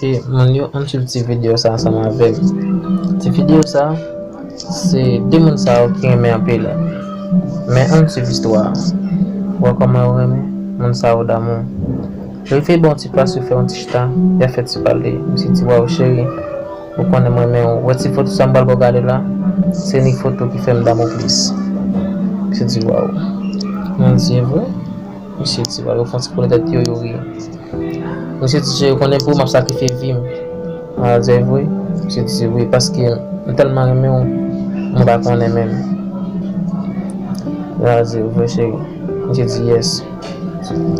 E moun yo an sou ti video sa ansanm avèm. Ti video sa, se de moun sa yo ki renmen anpe la. Men an sou vistwa. Wè kòman yo renmen, moun sa yo damou. Rive bon ti plas yo fè yon ti chita, ya fè ti pale. Misye di waw cheri. Ou konnen m renmen w. Wè ti foto sa m pral ba w gade la. Se nik foto ki fè m damou plis. Misye di waw. Moun di e vre? Misye di waw yo fon ti kole tèt yo yo ri. Misye di je ou konnen pou ou m ap sakrifye vi m. M pral di e vre? Misye di wi paske m tèlman renmen w mwen pa konnen menm. M pral di e vre cheri? Misye di yes.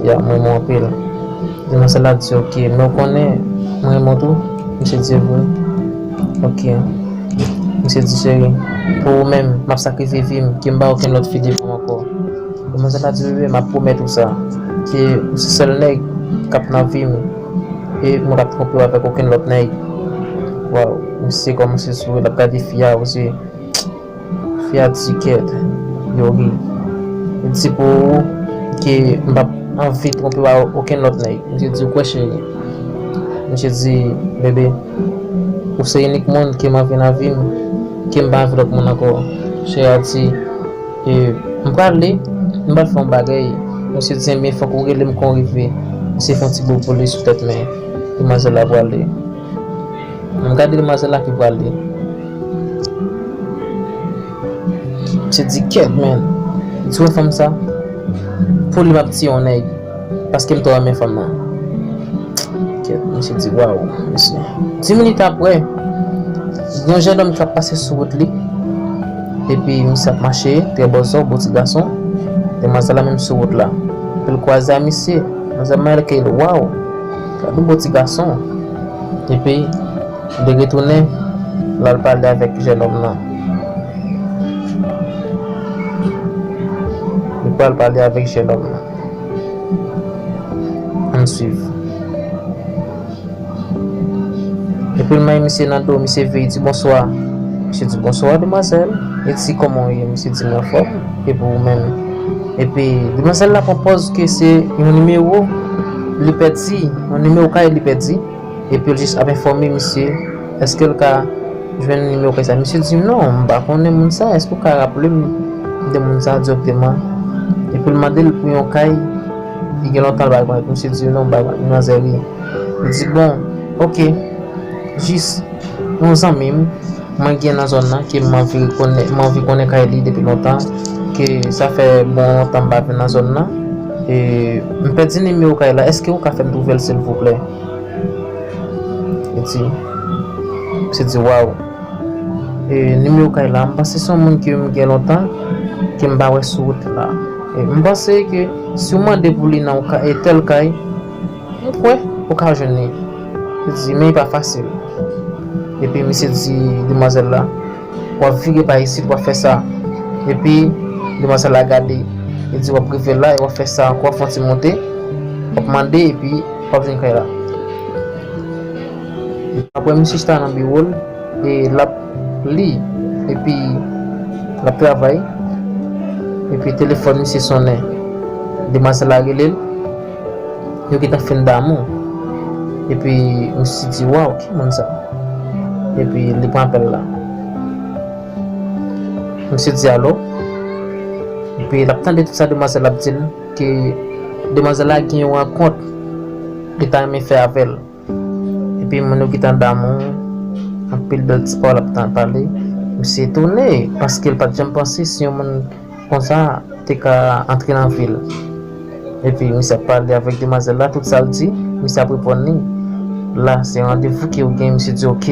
Yeah m renmen w anpil. Demoiselle la di ok men ou konnen m renmen w tou misye di vre ok misye di cheri pou ou menm m ap sakrifye vi m ke m ba okenn lòt fi devan w ankò demoiselle la di wi bebe m ap pwomèt ou sa ke ou se sèl nèg k ap nan vi m e mwen p ap twonpe w avèk okenn lòt nèg waw misye kòmanse souri l ap gade fi a o zye Fiat Ticket, Youri. M di pou ou ke m pap anvi twonpe w a okenn lòt nèg. Misye di, ou kwè cheri? Misye di, bebe, ou se inik moun ke m anvi nan vi m, ke m pa anvi lòt moun ankò. Cheri a di, e, m prale, m pral fè yon bagay. Misye di, enben fòk ou rele m kon rive. Misye fè yon ti bobo li sou tèt men, demoiselle la prale. An gade demwazèl la ki pral li. Se di kèt menn. Ti wè fanm sa? Pou li map tiye yon nèg. Paske m twò renmen fanm nan. Kèt misye di waww mesye. Di minit aprè. Yon jennòm kap pase sou wout li. Epi misye ap mache trè bòzò bon ti gason. Demwazèl la menm sou wout la. Epi l kwaze a misye. Manzè manyen l eke l waww. Gade yon bon ti gason. Epi, li retounen, l al pale avèk jènòm nan. Li pral pale avèk jènòm nan. An n suiv. Epi, l manye misye nan do. Misye veye, l di, Bonswa. Misye di, Bonswa, demwazèl. Li di, Kòman ou ye? Misye di, Mwen anfòm. Epi ou menm? Epi demwazèl la pran pòz ke se yon nimewo li pèdi, yon nimewo kay li pèdi, epi l jis ap enfòme misye eske l ka jwenn nimewo kay sa. Misye di non, m pa konnen moun sa, eske w ka raple m de moun sa dirèkteman? Epi l mande l pou yon kay li gen lontan l pa gen kay, epi misye di non, l pa gen kay, li nan zèri. Li di bon, ok, jis. Yon zanmi m mwen gen nan zòn nan ke m anvi konnen kay li depi lontan, ke sa fè bon lontan m pa vin nan zòn nan, m pèdi nimewo kay la, èske ou ka fè m twouve l silvouplè? Li di, misye di waw, nimewo kay la, m panse se yon moun ke m gen lontan ke m pa wè sou wout la, m panse ke si w mande pou li nan yon tèl kay, Mwen kwè ou ka jwenn li. Li di, men li pa fasil. Epi misye di demwazèl la, wap vire pa isit wap fè sa. Epi demwazèl la gade, li di wap rive la e wap fè sa ankò, wap fon ti monte, wap mande epi wap jwenn kay la. Apre misye chita nan biwo l e lap li epi lap travay, epi telefòn misye sonnen. Demwazèl la rele l. Yo gentan fin damou epi misye di waw ki moun sa epi li pran apèl la misye di alo epi lap tande tout sa demwazèl la ap dil ke demwazèl la gen yon rankont li ta renmen fè avèl. Epi moun yo ki t andan mwen, anpil bèl ti pawòl ap tan pale. M se etone, paske l pa t janm panse si yon moun konsa te ka antre nan vi l. Epi misye ap pale avèk demwazèl la, tout sa l di, misye ap reponn li. La se randevou ke yo gen, misye di ok.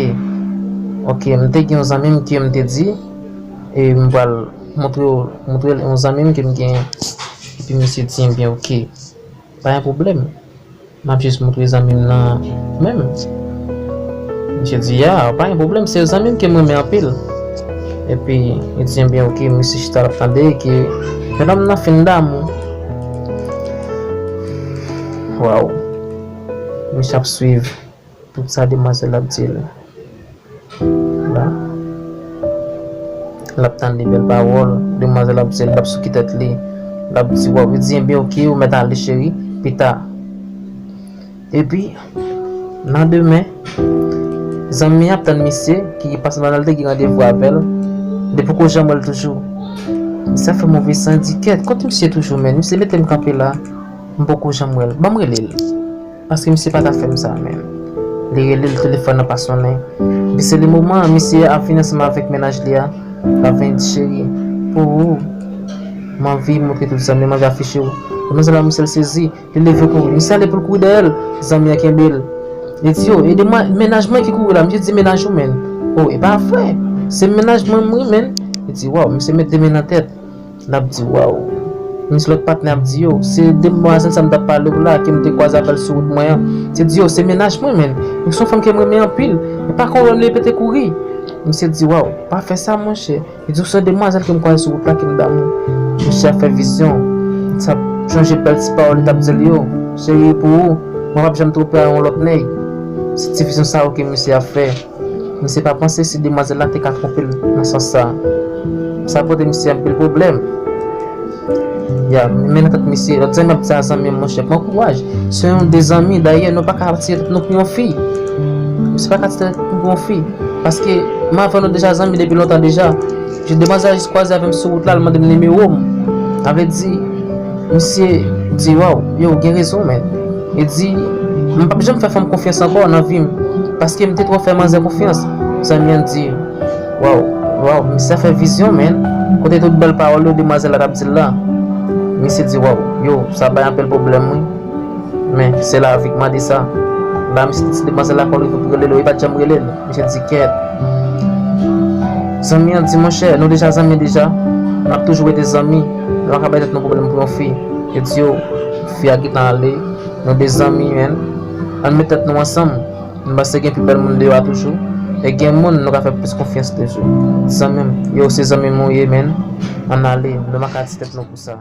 Ok, m te gen yon zanmi m ke m te di, e m pral montre w, montre l yon zanmi m ke m gen. Epi misye di ebyen ok. Pa gen pwoblèm. M ap jis montre zanmi m nan menm. Misye di, A, pa gen pwoblèm, se yon zanmi m ke m renmen anpil. Epi, li di, Ebyen, ok. Misye chita l ap tande e ke jennòm nan fin damou. Waww! Misye ap swiv. Tout sa demwazel ap dil la lap tande bel pawol demwazel ap dil lap souke tet li lap di waw li di enben ok ou met ale cheri pita epi nan demen zanmi an ap tann misye ki pase pandan li te gen randevou avel li poko janm wel toujou sa fè move san di ket kot misye toujou menn misye metem kanpe la mpoko janm wel banm relel. Paske misye pa ta fèm sa menm. Li rele l telefòn nan pa sonnen. Epi se le moman an misye ap vini ansanm avèk mennaj li a. L ap vini di cheri. Pou ou. M anvi montre tout zanmi m anvi afiche ou. Demwazèl la misye l sezi. Li leve kouri. Misye ale pou l kouri dèyè l. Zanmi an kenbe l. Li di yo ede mwen mennaj mwen ki kouri la. Misye di mennaj ou menn. O e pa vre. Se mennaj mwen m wi menn. Li di waw misye met de men nan tèt. N ap di, Waww! Men sa lòt patnè ap di yo, Se demwazèl sa m t ap pale w la, ke m te kwaze avè l sou wout mwen an. Misye di yo, Se mennaj mwen menn, e se yon fanm ke m renmen anpil. E pa kon wè m leve pete kouri. Misye di, Waww! Pa fè sa monchè. Li di, Se yon demwazèl ke m kwaze sou wout la ke m damou. Misye ap fè vizyon. Li t ap sonje bèl ti pawòl li t ap di l yo, Cheri, pou ou, mwen p ap janm twonpe a yon lòt nèg. Se ti vizyon sa yo ke misye ap fè. Misye pa panse si demwazèl la te ka twonpe l nan sans sa. Sa pote misye anpil pwoblèm. Ya, men nan tèt misye, lòt zanmi ap di a zanmi l, monchè, pran kouraj. Se yon de zanmi, dayè, nou pa ka ap tire tèt nou pou yon fi. Misye pa ka tire tèt li pou yon fi. Paske, m avè w nou deja zanmi depi lontan deja. Jou demwazèl la jis kwaze avè m sou wout la, l mande m nimewo m. Sa vle di, misye di, waw, yo, w gen rezon men. Li di, M pap janm fè fanm konfyans ankò nan vi m, paske m te twò fè manzè konfyans. Zanmi an di, Waww, waww, misye sa fè vizyon menn, kote tout bèl pawòl yo demwazèl la t ap di l la? Misye di, Waww, yow, sa bay anpil pwoblèm wi. Men, se lavi k mande sa. La misye te di demwazèl la kò l rive pou rele l yo, li pa t janm rele l. Misye di, Kèèt. Zanmi an di, Monchè, nou deja zanmi deja, n ap toujou rete zanmi, nou pa ka bay tèt nou pwoblèm pou yon fi. Li di, Yow. Fi a gentan ale Nou de zanmi menn Ann met tèt nou ansanm M panse gen pi bèl moun deyò a toujou E gen moun nou ka fè plis konfyans toujou Zanmi m Yow se zanmi m ou ye menn Ann ale Nou paka di tèt nou pou sa.